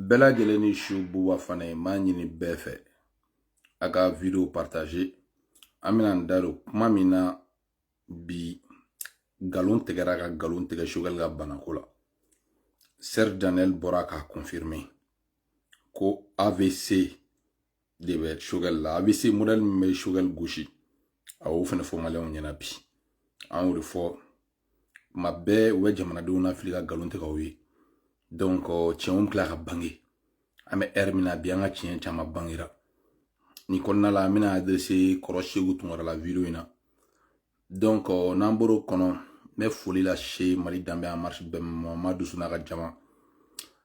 bɛɛ lajɛlen ni su buba fane m'a ɲini bɛɛ fɛ a ka video partage an bɛna n da don kuma min na bi nkalon tigɛra ka nkalon tigɛ sogɛli ka banako la serge daniel bɔra k'a confirme ko avc de bɛ sogɛli la avc modèle min bɛ sogɛli gosi a y'o fana fɔ maliyɛnw ɲɛna bi an y'o de fɔ tuma bɛɛ u bɛ jamanadenw nafili ka nkalon tigɛ u ye donc tiɲɛw tila ka bange an bɛ ɛri min na bi an ka tiɲɛ caman bangera nin kɔnɔna la an bɛna adrese kɔrɔ seku tunkara la wideyo in na n'an bɔr'o kɔnɔ n bɛ foli lase mali danbe en marche ben mamadu su n'a ka jama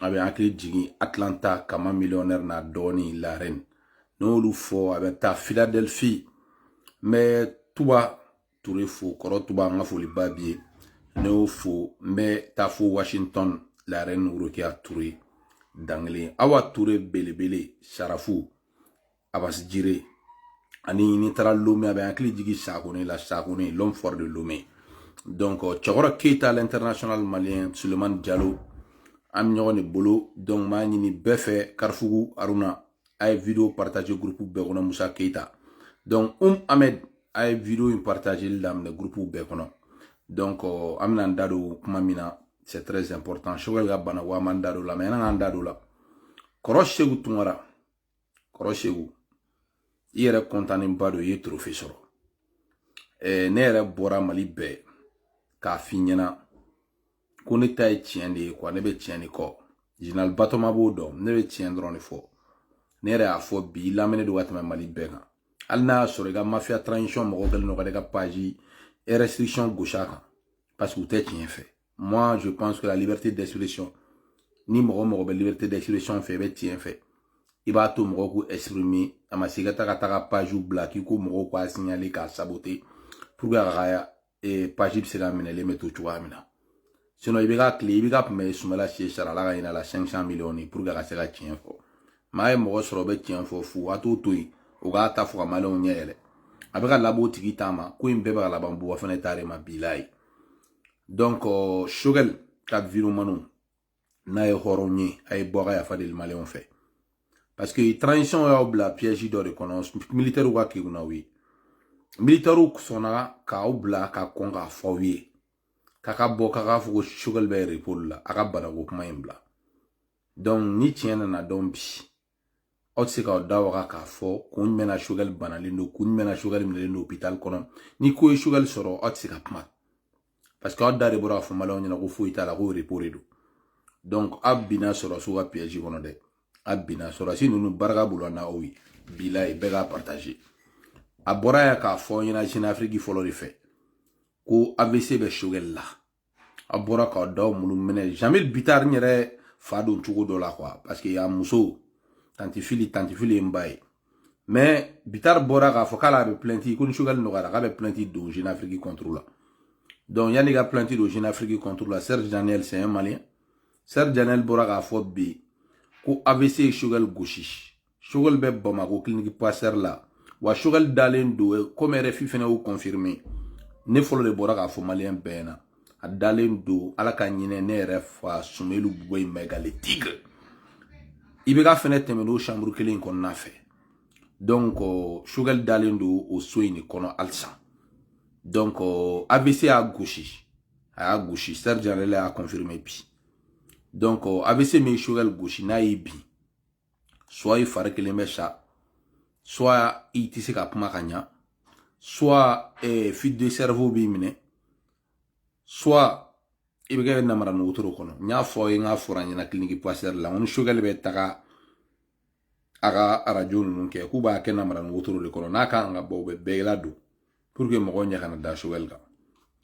a bɛ hakili jigin atlanta kama millionnaire na dɔɔni la reine n'olu fo a bɛ taa philadelphie n bɛ tuba ture fo kɔrɔ tuba an ka foliba b'i ye n y'o fo n bɛ taa fo washington la reine worokiya ture dankelen awa ture belebele sarafu abasi jire ani n'i taara lome a bɛ hakili jigin sakone la sakone l'homme fort de lome donc cɛkɔrɔ keyita l'international malien sulemani jalo an bɛ ɲɔgɔn de bolo donc n b'a ɲini bɛɛ fɛ karifugu aruna a ye video partage groupe bɛɛ kɔnɔ musa keyita donc um ahmed a ye video in partageli daminɛ groupe bɛɛ kɔnɔ donc an bɛna n da don kuma min na c'est très important sogɛli ka bana wa an b'an da don o la mais yan'an k'an da don o la kɔrɔ seku tunkara kɔrɔ seku i yɛrɛ kɔntanenba don i ye trophée sɔrɔ ɛɛ ne yɛrɛ bɔra mali bɛɛ k'a f'i ɲɛna ko ne ta ye tiɲɛ de ye ko ne bɛ tiɲɛ de kɔ jinali batoma b'o dɔn ne bɛ tiɲɛ dɔrɔn de fɔ ne yɛrɛ y'a fɔ bi i lamɛnnen don ka tɛmɛ mali bɛɛ kan hali n'a y'a sɔrɔ i ka mafiya transition mɔgɔw kɛlen don ka ne ka page restriction gosi a kan parce que u tɛ tiɲɛ fɛ moi je pense que la liberté d'expression ni mɔgɔ o mɔgɔ bɛ liberté d'expression fɛ i bɛ tiɲɛ fɛ i b'a to mɔgɔw k'u exprimer a ma se i ka taa ka taa ka page bila k'i ko mɔgɔw k'a signaler k'a saboter pour que a ka eh, page bɛ se ka minɛlen bɛ to cogoya min na sinon ibk tile ibk tun bɛ sumayila sise sara ala ka hin'a la 500 millions ye pour que a ka se ka tiɲɛ fɔ mais a ye mɔgɔ sɔrɔ o bɛ tiɲɛ fɔ fu a t'o to yen o k'a ta fɔ ka maliyɛnw ɲɛ yɛlɛ a bɛ ka laban o tigi ta ma ko in bɛɛ bɛ ka laban buba fane ta de ma bilayi donc euh, sogɛli ka videomanw n'a ye hɔrɔn ye a ye bɔ a ka yafa deli maliyɛnw fɛ parce que transition y'aw bila piège dɔ de kɔnɔ militairew ka kegun n'aw ye militairew sɔnna k'aw bila ka kɔn k'a fɔ aw ye k'a ka bɔ k'a k'a fɔ ko sogɛli bɛ repos la a ka banako kuma in bila donc ni tiɲɛ nana dɔn bi aw tɛ se k'aw da waga k'a fɔ kun jumɛn na Choguel banalen don kun jumɛn na Choguel minɛlen don hôpital kɔnɔ ni ko ye Choguel sɔrɔ aw tɛ se ka kuma parce que aw da de bɔra k'a fɔ maliyɛnw ɲɛna ko foyi t'a la ko repos de don donc aw binna sɔrɔsiw ka piège kɔnɔ dɛ a binna sɔrɔsi ninnu barika bolo na oui bilayi bɛɛ k'a partager a bɔra yan k'a fɔ i ɲɛna Jeune Afrique fɔlɔ de fɛ ko AVC bɛ Choguel la a bɔra ka daw minnu minɛ Jeamille Bittar n yɛrɛ fa don cogo dɔ la quoi parce que a muso tanti Fili tanti Fili ye n ba ye mais Bittar bɔra k'a fɔ k'ale bɛ plainte ko ni Choguel nɔgɔyara k'a bɛ plainte don jeune afrique contre la donc yanni ka plainte don jeune afrique contre la serge daniel c'est un malien serge daniel bɔra k'a fɔ bi ko AVC ye Choguel gosi Choguel bɛ Bamako clinique pasteur la wa Choguel dalen don eh, comme RFI fana y'o confirmer ne fɔlɔ de bɔra k'a fɔ maliyɛn bɛɛ ɲɛna a dalen don ala ka hinɛ ne yɛrɛ fa Soumeylou Boubèye Maïga le tigre IBK fɛnɛ tɛmɛna o chambre kelen in kɔnɔna fɛ donc Choguel euh, dalen don o so in de kɔnɔ halisa donc euh, avc y'a gosi a y'a gosi Serge yɛrɛ y'a confirmer bi donc euh, avc min ye Choguel gosi n'a y'i bin soit i fari kelen bɛ sa soit i tɛ se ka kuma ka ɲa soit eh, fuite de cerveau b'i minɛ soit i bɛ kɛ namara nu wotoro kɔnɔ n y'a fɔ aw ye n k'a fɔra n ɲɛna clinique pasteur la n ko ni Choguel bɛ taga a ka arajo ninnu kɛ k'u b'a kɛ namara nu wotoro de kɔnɔ n'a kan ka bɔ u bɛ bɛɛ ladon pour que mɔgɔw ɲɛ kana da Choguel kan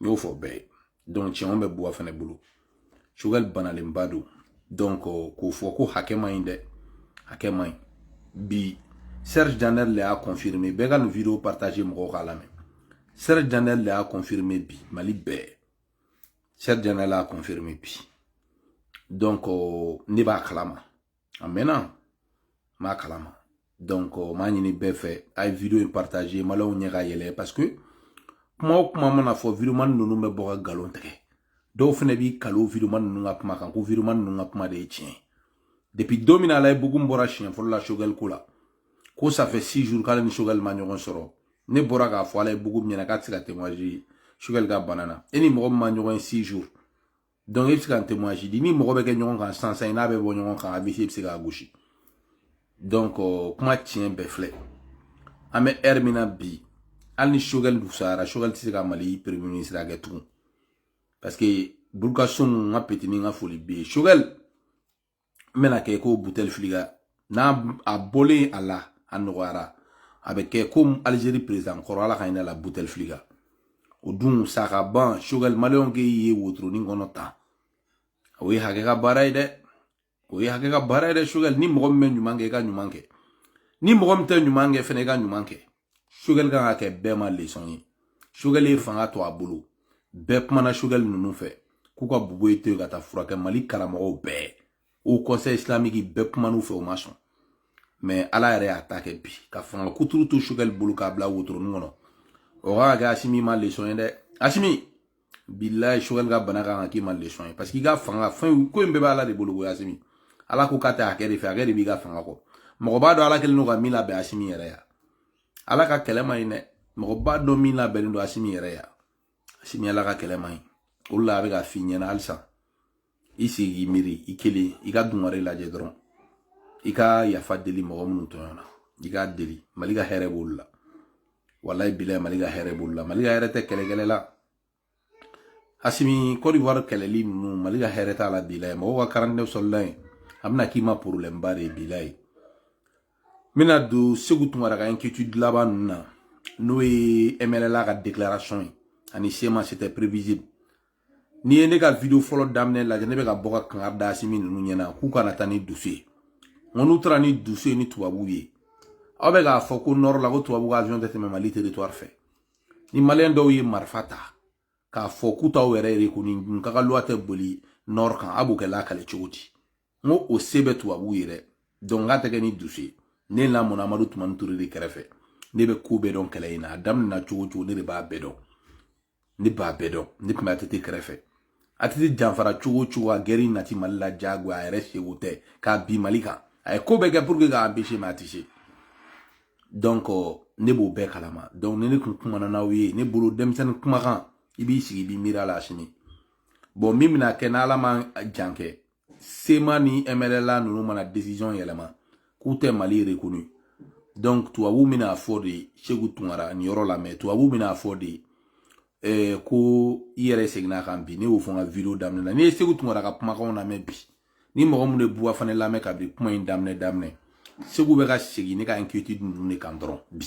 n y'o fɔ bɛɛ ye donc tiɲɛw bɛ Bouba Fané bolo Choguel banalenba don donc k'o fɔ ko hakɛ man ɲi dɛ hakɛ man ɲi bi Serge Daniel le y'a confirmer bɛɛ ka nin video partager mɔgɔw k'a lamɛn Serge Daniel le y'a confirmer bi mali bɛɛ Serge Daniel y'a confirmer bi donc ne b'a kalama a mɛnna n b'a kalama donc n b'a ɲini bɛɛ fɛ a ye video in partager maliyɛnw ɲɛ ka yɛlɛ parce que kuma o kuma mana fɔ videomani ninnu bɛ bɔ ka nkalon tigɛ dɔw fana bɛ ka lɔ videomani ninnu ka kuma kan ko videomani ninnu ka kuma de ye tiɲɛ depuis don min na Allaye Bocoum bɔra siɲɛ fɔlɔ la Choguel ko la ko ça fait six jours k'ale ni Choguel ma ɲɔgɔn sɔrɔ ne bɔra k'a fɔ Allaye Bocoum ɲɛna k'a tɛ se ka témoigner Choguel ka bana na e ni mɔgɔ min ma ɲɔgɔn ye six jours donc e bɛ se ka témoigner di ni mɔgɔ bɛ kɛ ɲɔgɔn kan sisan sisan n'a bɛ bɔ ɲɔgɔn kan AVC bɛ se k'a gosi donc kuma tiɲɛ bɛɛ filɛ an bɛ heure min na bi hali ni Choguel fisayara Choguel tɛ se ka Mali premier ministre kɛ tugun parce que Burkasoni n ka petini n ka foli b'i ye Choguel n bɛna kɛ ko butefilika n'a a bɔlen a la a nɔgɔyara a bɛ kɛ komi alizeri perezidan kɔrɔ ala ka hinɛ a la butefilika o dun sa ka ban sogɛli maliyɛnw k'e ye wotoroni kɔnɔ tan o ye hakɛ ka baara ye dɛ o ye hakɛ ka baara ye dɛ sogɛli ni mɔgɔ min bɛ ɲuman kɛ i ka ɲuman kɛ ni mɔgɔ min tɛ ɲuman kɛ fɛnɛ i ka ɲuman kɛ sogɛli kan ka kɛ bɛɛ ma lesɔn ye sogɛli ye fanga to a bolo bɛɛ kumana sogɛli ninnu fɛ k'u ka bubɛyi to yen ka taa furakɛ mali karamɔgɔw bɛɛ o kɔnsɛyi isilamiki bɛɛ kuman'u fɛ u ma sɔn mɛ ala yɛrɛ y'a ta kɛ bi ka fanga kuturu to sogɛli bolo k'a bila wotoronin kɔnɔ o ka kɛ asimi ma lesɔn ye dɛ asimi bilayi sogɛli ka bana kan ka k'i ma lesɔn ye paseke i ka fanga fɛn ko in bɛɛ bɛ ala de bolo ko asimi ala ko k'a tɛ hakɛ de fɛ hakɛ de b'i ka fanga kɔ mɔgɔ b'a dɔn ala kɛlen don ka min labɛn asimi yɛrɛ ya ala ka kɛlɛ ma ɲi dɛ mɔgɔ b'a dɔn min labɛnnen don asimi yɛrɛ ya asimi ala ka kɛlɛ ma ɲi o de la a bɛ ka f'i ɲɛna halisa i sigi k'i miiri i kelen i ka dungare lajɛ dɔrɔn i ka yafa deli mɔgɔ minnu tɔɲɔna i k'a deli mali ka hɛrɛ b'olu la walayi bilayi mali ka hɛrɛ b'olu la mali ka hɛrɛ tɛ kɛlɛkɛlɛ la asimi kɔdiwari kɛlɛli ninnu mali ka hɛrɛ t'a la bilayi mɔgɔw ka quarante-neuf soldats ye a bɛna k'i ma porobilɛmba de ye bilayi n bɛna don segu tunkara ka inquiétude laban ninnu na n'o ye mnla ka déclaration ye ani sema c'était prévisible n'i ye ne ka video fɔlɔ daminɛ lajɛ ne bɛ ka bɔ ka kankari da asimi ninnu ɲɛna k'u kana taa ni dusu ye nka n'u taara ni dusu ye ni tubabuw ye aw bɛ k'a fɔ ko nɔrɔ la ko tubabu ka avion tɛ tɛmɛ mali territoire fɛ ni maliyɛn dɔw ye marifa ta k'a fɔ k'u t'aw yɛrɛ rekonu k'aw ka loi tɛ boli nɔrɔ kan a b'o kɛlɛ kɛ cogo di n ko o se bɛ tubabuw ye dɛ donc k'a tɛ kɛ ni dusu ye ne lamɔna amadu tumani ture de kɛrɛfɛ ne bɛ ko bɛɛ dɔn kɛlɛ in na a daminɛna cogo cogo ne de b'a bɛɛ dɔn ne b'a bɛɛ dɔn ne tun bɛ atete kɛrɛfɛ atete janfara cogo cogo a gɛri nati mali la jagoya a yɛrɛ sago tɛ k'a bin mali kan a ye ko bɛɛ kɛ pour que k'a empêcher mais a tɛ se donc euh, ne b'o bɛɛ kalama donc ni ne tun kumana n'aw ye ne bolo denmisɛnnin kumakan i b'i sigi i b'i miiri a la sini bon min bɛna kɛ n'ala ma jan kɛ sema ni mnla ninnu mana décision yɛlɛma k'u tɛ mali rekonu donc tubabu bɛna fɔ de segu tunkara nin yɔrɔ lamɛn tubabu bɛna fɔ de eh, ko i yɛrɛ seginn'a kan bi ne y'o fɔ n ka video daminɛ na n'i ye segu tunkara ka kumakanw lamɛn bi ni mɔgɔ minnu ye buwa fana lamɛn ka bi kuma in daminɛ daminɛ segu bɛ ka segin ne ka inquiétude ninnu de kan dɔrɔn bi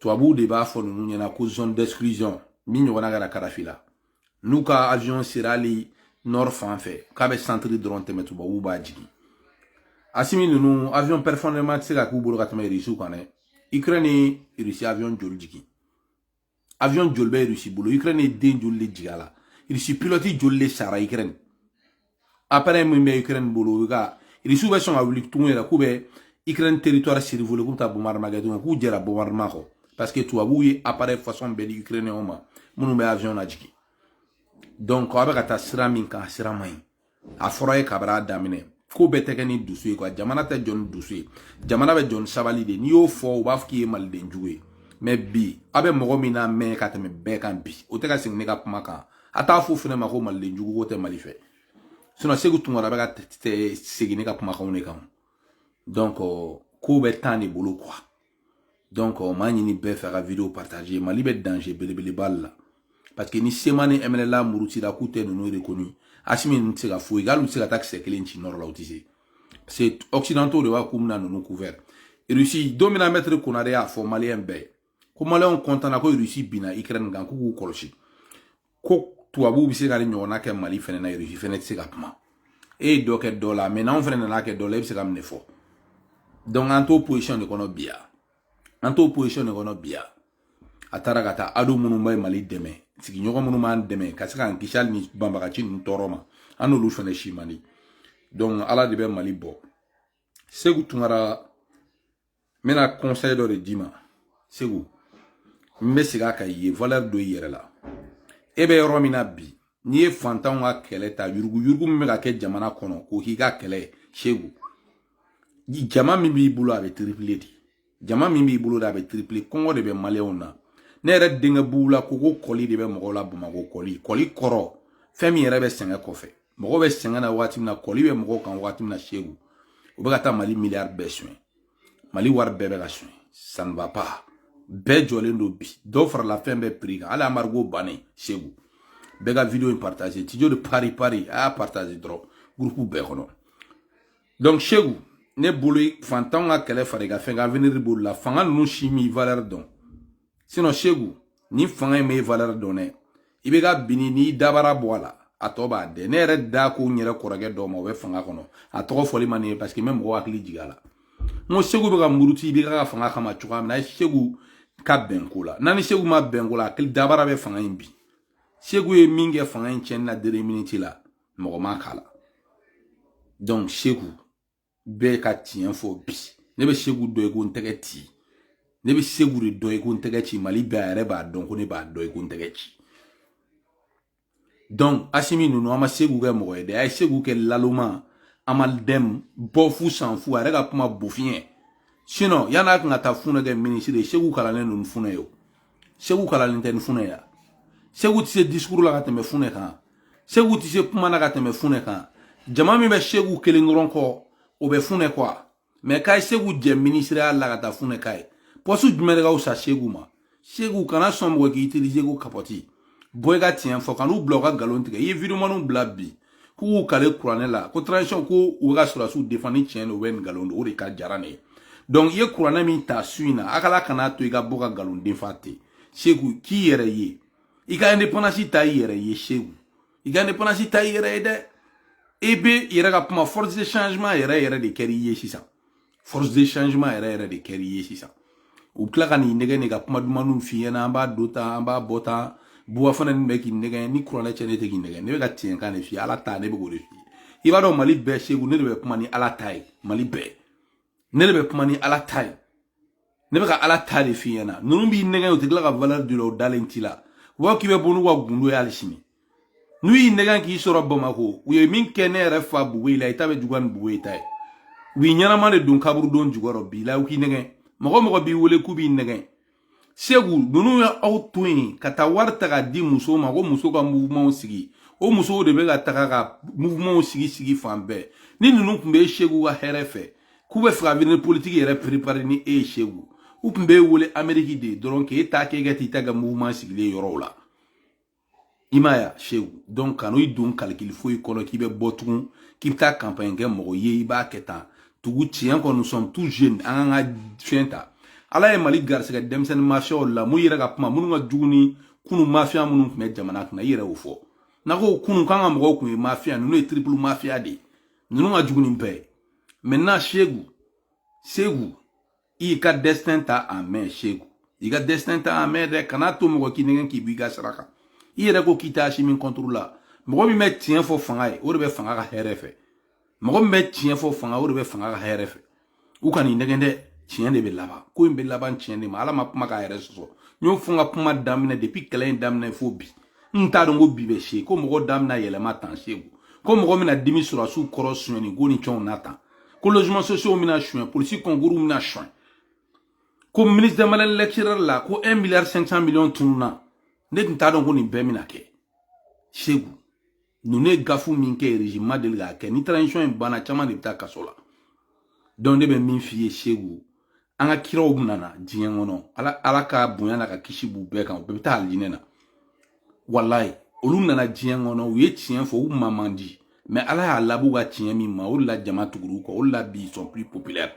tubabuw de b'a fɔ ninnu ɲɛna ko zone d'exclusion min ɲɔgɔnna kɛra kadafi la n'u ka avion sera hali nord fan fɛ k'a bɛ santiri dɔrɔn tɛmɛ tubabuw b'a jigin asimi ninnu avion performant tɛ se ka k'u bolo ka tɛmɛ irisiw kan dɛ ukraine ye irisi avion joli jigin avion joli bɛ irisi bolo ukraine ye den joli de jigin a la irisi pilɔti joli de sara ukraine appareil min bɛ ukraine bolo u ka irisiw bɛ sɔn ka wuli tugun yɛrɛ k'u bɛ ukraine territoire survoler k'u bɛ taa bombardement kɛ tugun k'u jɛra bombardement kɔ parce que tubabuw ye appareil façon bɛɛ di ukrainiyɛnw ma minnu bɛ avion lajigin donc aw bɛ ka taa sira min kan a sira man ɲi a fɔra ye kabara daminɛ ko bɛɛ tɛ kɛ ni dusu ye quoi jamana tɛ jɔ ni dusu ye jamana bɛ jɔ ni sabali de n'i y'o fɔ u b'a fɔ k'i ye maliden jugu ye mais bi aw bɛ mɔgɔ min lamɛn ka tɛmɛ bɛɛ kan bi o tɛ ka segin ne ka kuma kan a t'a fɔ fɛnɛ ma ko maliden jugu ko tɛ mali fɛ sinon seku tunkara bɛ ka segin ne ka kumakanw de kan donc kow bɛ temps de bolo quoi donc n b'a ɲini bɛɛ fɛ a ka video partage mali bɛ danger belebeleba la parce que ni cma ni mnla murutira k'u tɛ ninnu reconnu asimi ninnu tɛ se ka foyi kɛ hali u tɛ se ka taa kisɛ kelen ci nord la u tɛ se parce que occidentaux de b'a k'u bɛna ninnu couvert russie don min na mɛtiri konare y'a fɔ maliyɛn bɛɛ ko maliyɛnw kɔntanna ko irisi binna ikirɛni kan k'u k'u kɔlɔsi ko tubabuw bɛ se ka nin ɲɔgɔnna kɛ mali fɛnɛ na irisi fɛnɛ tɛ se ka kuma e ye dɔ kɛ dɔ la mais n'anw fɛnɛ nan'a kɛ dɔ la e bɛ se ka mun de fɔ donc an t'o position de kɔnɔ bi yan an t'o position de kɔnɔ bi yan a taara ka taa ado minnu bɛ mali dɛmɛ sigiɲɔgɔn minnu b'an dɛmɛ ka se k'an kisi hali ni banbagaci ninnu tɔɔrɔ ma an n'olu fɛnɛ cɛ man di donc ala de bɛ mali bɔ seku tunkara n bɛna conseil dɔ de d'i ma seku n bɛ segin a kan i ye valeur don i yɛrɛ la e bɛ yɔrɔ min na bi n'i ye fantanw ka kɛlɛ ta yuruguyurugu min bɛ ka kɛ jamana kɔnɔ k'o k'i ka kɛlɛ ye seku jama min b'i bolo a bɛ tripler dɛ jama min b'i bolo de a bɛ tripler kɔngɔ de bɛ maliyɛnw na ne yɛrɛ denkɛ bugu la ko ko kɔli de bɛ mɔgɔw la bamakɔ kɔli kɔli kɔrɔ fɛn min yɛrɛ bɛ sɛgɛn kɔfɛ mɔgɔw bɛ sɛgɛn na waati min na kɔli bɛ mɔgɔw kan waati min na seku u bɛ ka taa mali miliyari bɛɛ sonya mali wari bɛɛ bɛ ka sonya ça ne va pas bɛɛ jɔlen don bi dɔw farala fɛn bɛɛ prix kan hali embargo bannen seku bɛɛ ka video in partage tijo de paris a y'a partage dɔrɔn gurupu bɛɛ kɔnɔ donc seku ne bolo fantanw ka kɛlɛ fara i ka fɛn kan avenir b'olu la fanga ninnu si m'i valeur dɔn sinon seku ni fanga in b'i valeur dɔn dɛ i bɛ ka binni n'i dabara bɔ a la a tɔ b'a dɛ ne yɛrɛ da ko n yɛrɛ kɔrɔkɛ dɔw ma o bɛ fanga kɔnɔ a tɔgɔ fɔli man ɲi parce que n bɛ mɔgɔ hakili jigin a la n ko seku bɛ ka muruti i bɛ ka fanga kama cogoya min na seku ka bɛn ko la n'a ni seku ma bɛn ko la hakili dabara bɛ fanga in bin seku ye min kɛ fanga in tiɲɛni na deux minutes la mɔgɔ ma k'a la donc seku bɛ ka tiɲɛ fɔ bi ne bɛ seku dɔn i ko n tɛgɛ ci ne bɛ seku de dɔn i ko n tɛgɛ ci mali bɛɛ a yɛrɛ b'a dɔn ko ne b'a dɔn i ko n tɛgɛ ci donc asimi ninnu a ma seku kɛ mɔgɔ ye dɛ a ye seku kɛ laloma a ma dɛm bɔ fu san fu a yɛrɛ ka kuma bofiɲɛ sinon yann'a tun ka taa funɛ kɛ minisiri ye seku kalannen n'o funɛ ye o seku kalannen tɛ ni funɛ ya seku tɛ se disukuru la ka tɛmɛ funɛ kan seku tɛ se kuma na ka tɛmɛ funɛ kan jama min bɛ seku kelen dɔrɔn kɔ o bɛ funɛ kɔ wa mais k'a ye seku jɛ minisiriya la ka taa funɛ k'a ye poste jumɛn de ka fisa seku ma seku kana sɔn mɔgɔ k'i utiliser ko kapɔti bɔ i ka tiɲɛ fɔ kan'u bila u ka nkalon tigɛ i ye videomaniw bila bi k'u kale kuranɛ la ko transition ko u ka sɔrɔdasiw defan ni tiɲɛ don o ni nkalon don o de ka jara ne ye donc i ye kuranɛ min ta su in na a k'ala kana to i ka bɔ ka nkalon defan ten seku k'i yɛrɛ ye i ka indépendance ta i yɛrɛ ye seku i ka indépendance ta i yɛrɛ ye dɛ i bɛ i yɛrɛ ka kuma force de changement yɛrɛ yɛrɛ de kɛra i ye sisan force de changement yɛrɛ yɛrɛ de kɛr'i ye sisan u tila ka n'i nɛgɛn ka kuma dumanw f'i ɲɛna an b'a don tan an b'a bɔ tan buwa fana nin bɛ k'i nɛgɛn ni kuranɛ cɛ ne tɛ k'i nɛgɛn ne bɛ ka tiɲɛkan de f'i ala ta ne bɛ k'o de f'i ye i b'a dɔn mali bɛɛ seku ne de bɛ kuma ni ala ta ye mali bɛɛ ne de bɛ kuma ni ala ta ye ne bɛ ka ala ta de f'i ɲɛna ninnu b'i nɛgɛn u tɛ tila ka valeur d'i la u dalen t'i la u b'a k'i bɛ bɔ n'u ka gundo ye hali sini n'u y'i nɛgɛn k'i sɔrɔ bamako u ye min kɛ ne yɛrɛ fa buwe la i ta bɛ juguya ni buwe ta ye u b'i ɲɛnama de don kaburudon jukɔrɔ bi la u k'i nɛgɛn mɔgɔ mɔgɔ b'i wele k'u b'i nɛgɛn seku ninnu ye aw to yen ka taa wari ta ka di muso ma ko muso ka mouvementw sigi o musow de bɛ ka taga ka mouvementw sigi sigi fan bɛɛ ni ninnu tun bɛ seku ka hɛrɛ fɛ k'u bɛ fɛ ka avenir politiki yɛrɛ perepare ni e ye seku u tun b'e wele ameriki de dɔrɔn k'e ta k'e ka t'i ta kɛ mouvement sigilen yɔrɔw la i m'a ye seku donc kan'o i don kalikili foyi kɔnɔ k'i bɛ bɔ tugun k'i bɛ taa kanpaɲi kɛ mɔgɔ ye i b'a kɛ tan tugu tiɲɛ kɔ nous sommes tous jeunes an k'an ka fɛn ta ala ye mali garisigɛ denmisɛnnin mafiyaw la mun yɛrɛ ka kuma minnu ka jugu ni kunu mafiya minnu tun bɛ jamana kunna i yɛrɛ y'o fɔ n'a ko kunu k'an ka mɔgɔw tun ye mafiya ninnu ye triple mafiya de ye ninnu ka jugu ni bɛɛ ye maintenant seku seku i ka destin ta en main seku i ka destin ta en main dɛ kana to mɔgɔ k'i nɛgɛn k'i bɔ i ka sira kan i yɛrɛ ko k'i t'asimi contre la mɔgɔ min bɛ tiɲɛ fɔ fanga ye o de bɛ fanga ka hɛrɛ fɛ mɔgɔ min bɛ tiɲɛ fɔ fanga o de bɛ fanga ka hɛrɛ fɛ u kana i nɛgɛn dɛ tiɲɛ de bɛ laban ko in bɛ laban tiɲɛ de ma ala ma kuma k'a yɛrɛ sɔsɔ n y'o fɔ n ka kuma daminɛ depuis kɛlɛ in daminɛ fo bi n t'a dɔn ko bi bɛ se ko mɔgɔ da bɛna yɛlɛma tan seku ko mɔgɔ bɛna dimi sɔrɔsiw kɔrɔ sonyani ko ni cɛnw na tan ko logement sociaux bɛna sonya polisi concours bɛna sonya ko ministre de malin lecturer la ko 1 milliard 500 millions tununna ne tun t'a dɔn ko nin bɛɛ bɛna kɛ seku ninnu ye gaffe min kɛ régime ma deli k'a kɛ ni transition in banna caman de bɛ taa kaso la donc ne bɛ min f'i ye seku an ka kiraw min nana diɲɛ kɔnɔ ala ka bonya n'a ka kisi b'u bɛɛ kan u bɛɛ bɛ taa alijinɛ na walayi olu nana diɲɛ kɔnɔ u ye tiɲɛ fɔ u ma man di mais ala y'a laban u ka tiɲɛ min ma o de la jama tugur'u kɔ o de la bi ils sont plus populaires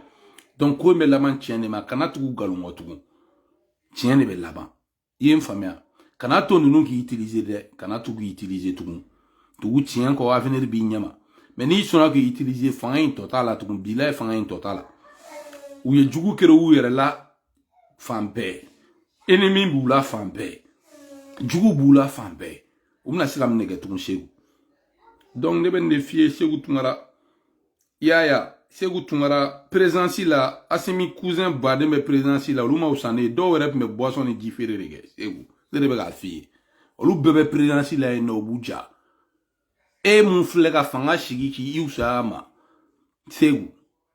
donc ko in bɛ laban tiɲɛ de ma kana tugu galon kɔ tugun tiɲɛ de bɛ laban i ye n faamuya kana to ninnu k'i utiliser dɛ kana to k'i utiliser tugun tugu tiɲɛ kɔ avenir b'i ɲɛma mais n'i sɔnna k'i utiliser fanga in tɔ t'a la tugun bilayi fanga in tɔ t'a la u ye jugu créer u yɛrɛ la fan bɛɛ ennemi b'u la fan bɛɛ jugu b'u la fan bɛɛ u bɛna se ka mun de kɛ tugun segu donc ne bɛ nin de f'i ye segu tunkara i y'a ye segu tunkara présidence la asimi cousin baden bɛ présidence la olu ma wusa ne ye dɔw yɛrɛ tun bɛ boisson ni ji feere de kɛ segu ne de bɛ k'a f'i ye olu bɛɛ bɛ présidence la yen nɔ u b'u ja e mun filɛ ka fanga sigi k'i i wusaya ma segu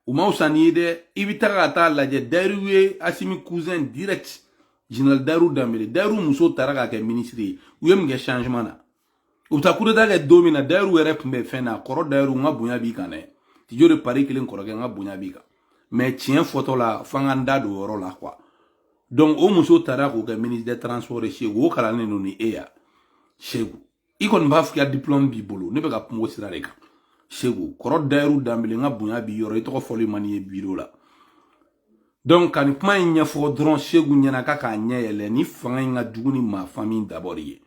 u ma wusa n'i ye dɛ i bɛ taga ka taa lajɛ dayiru ye asimi cousin directeur général dayiru danbele dayiru muso taara k'a kɛ minisiri ye u ye mun kɛ changement na u bɛ taa kudeta kɛ don min na dayiru yɛrɛ tun bɛ fɛn na kɔrɔ dayiru n ka bonya b'i kan dɛ tijo de pari kelen kɔrɔkɛ n ka bonya b'i kan mais tiɲɛ fɔtɔ la fo an ka n da don o yɔrɔ la quoi donc o muso taara k'o kɛ ministre des transports ye segu o kalannen don ni e ya segu i kɔni b'a f'i ka diplôme b'i bolo ne bɛ ka kuma o sira de kan segu kɔrɔ dayiru danbele n ka bonya b'i yɔrɔ i tɔgɔ fɔli man di n ye biro la donc ka nin kuma in ɲɛfɔ dɔrɔn segu ɲɛna k'a k'a ɲɛ yɛlɛ ni fanga in ka jugu ni maa fan min dabɔri ye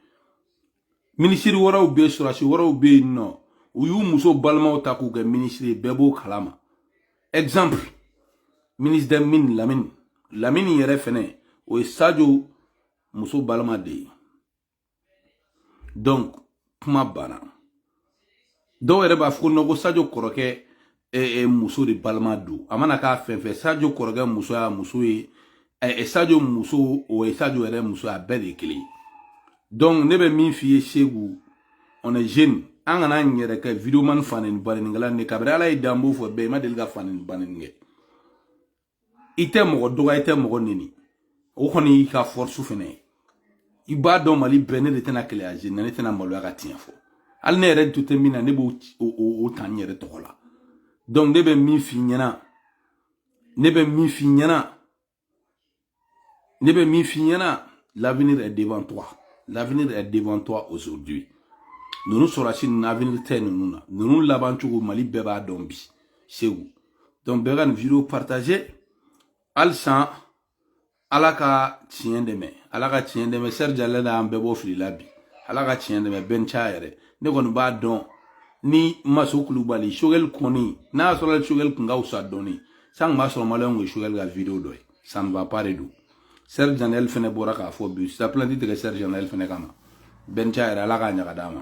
minisiri wɛrɛw bɛ sɔrɔdasi wɛrɛw bɛ yen nɔ u y'u muso balimaw ta k'u kɛ minisiri ye bɛɛ b'o kalama exemple ministre des mines lamini lamini yɛrɛ fɛnɛ o ye sajo muso balima de ye donc kuma banna dɔw yɛrɛ b'a fɔ ko non ko sajo kɔrɔkɛ e, e, muso de balima don a mana k'a fɛn fɛn sajo kɔrɔkɛ muso y'a muso ye e, sajo muso o ye sajo yɛrɛ muso a bɛɛ de ye kelen ye donc ne bɛ min f'i ye segu on est jeune an kana an yɛrɛ kɛ videoman faneni banenikɛla ne kabiri ala y'i dan n b'o fɔ bɛɛ i ma deli ka faneni baneni kɛ i tɛ mɔgɔ dɔgɔya i tɛ mɔgɔ neni o kɔni y'i ka force fɛnɛ ye i b'a dɔn mali bɛɛ ne de tɛna keleya jeune na ne tɛna maloya ka tiɲɛ fɔ hali ne yɛrɛ nɔ tɛ min na ne b'o ta n yɛrɛ tɔgɔ la donc ne bɛ min f'i ɲɛna ne bɛ min f'i ɲɛna ne bɛ min f'i ɲɛna l'avenir est devant toi l'avenir est devant toi aujourd'hui ninnu sɔrɔsi ninnu avenir tɛ ninnu na ninnu laban cogo mali bɛɛ b'a dɔn bi segu donc bɛɛ ka nin vidéo partager halisa ala ka tiɲɛ dɛmɛ ala ka tiɲɛ dɛmɛ serge daniel an bɛɛ bɔ fili la bi ala ka tiɲɛ dɛmɛ bɛnca yɛrɛ ne kɔni b'a dɔn ni maso kulubali choguel kɔni n'a y'a sɔrɔ choguel kun ka fisa dɔɔni san kun b'a sɔrɔ maliyɛnw kun ye choguel ka vidéo dɔ ye ça ne va pas de don serge daniel fɛnɛ bɔra k'a fɔ bi se ka plainte tigɛ serge daniel fɛnɛ kama bɛnca yɛrɛ ala k'a ɲaga d'a ma